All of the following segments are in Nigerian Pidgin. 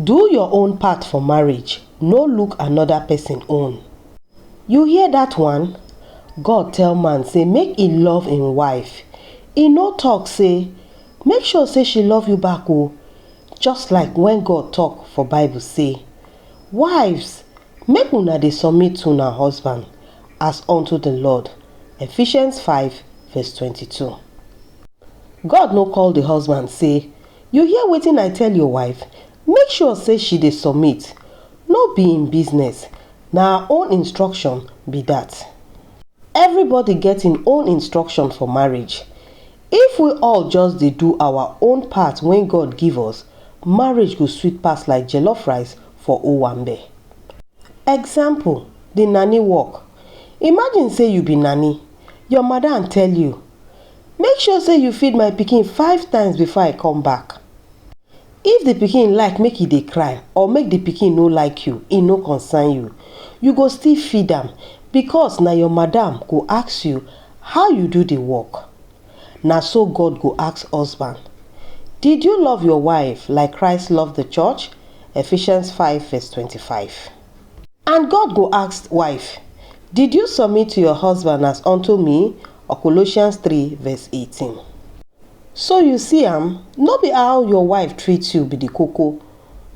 Do your own part for marriage, no look another person own. You hear that one? God tell man say make e love im wife, e no talk say make sure say she love you back o, oh. just like when God talk for Bible say, Wives, make una dey submit to una husband as unto the Lord. Ephesians 5 verse 22. God no call the husband say You hear wetin I tell your wife, make sure say she dey submit, no be im business, na her own instruction be that. Everybody get im own instruction for marriage, if we all just dey do our own part wey God give us, marriage go sweet pass like jollof rice for owambe. Example, the nanny work, imagine say you be nanny, your madam tell you, Make sure say you feed my pikin five times before I come back. If the pikin like make e dey cry or make the pikin no like you, e no concern you. You go still feed am because na your madam go ask you how you do the work. Na so God go ask husband. Did you love your wife like Christ love the church? Ephesians five verse twenty five. And God go ask, Wife, did you submit to your husband as unto me? Or Colossians 3 verse 18. So you see am, no be how your wife treat you be the koko,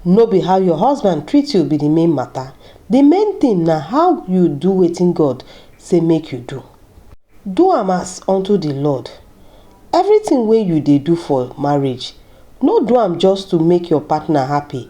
no be how your husband treat you be the main matter, the main thing na how you do wetin God say make you do. Do am as unto the Lord. Everything wey you dey do for marriage, no do am just to make your partner happy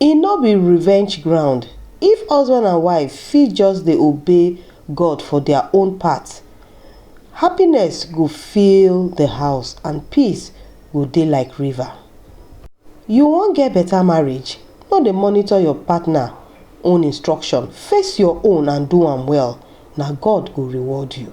E no be revenge ground. If husband and wife fit just dey obey God for their own part, happiness go fill the house and peace go dey like river. You wan get better marriage? No dey monitor your partner own instruction, face your own and do am well, na God go reward you.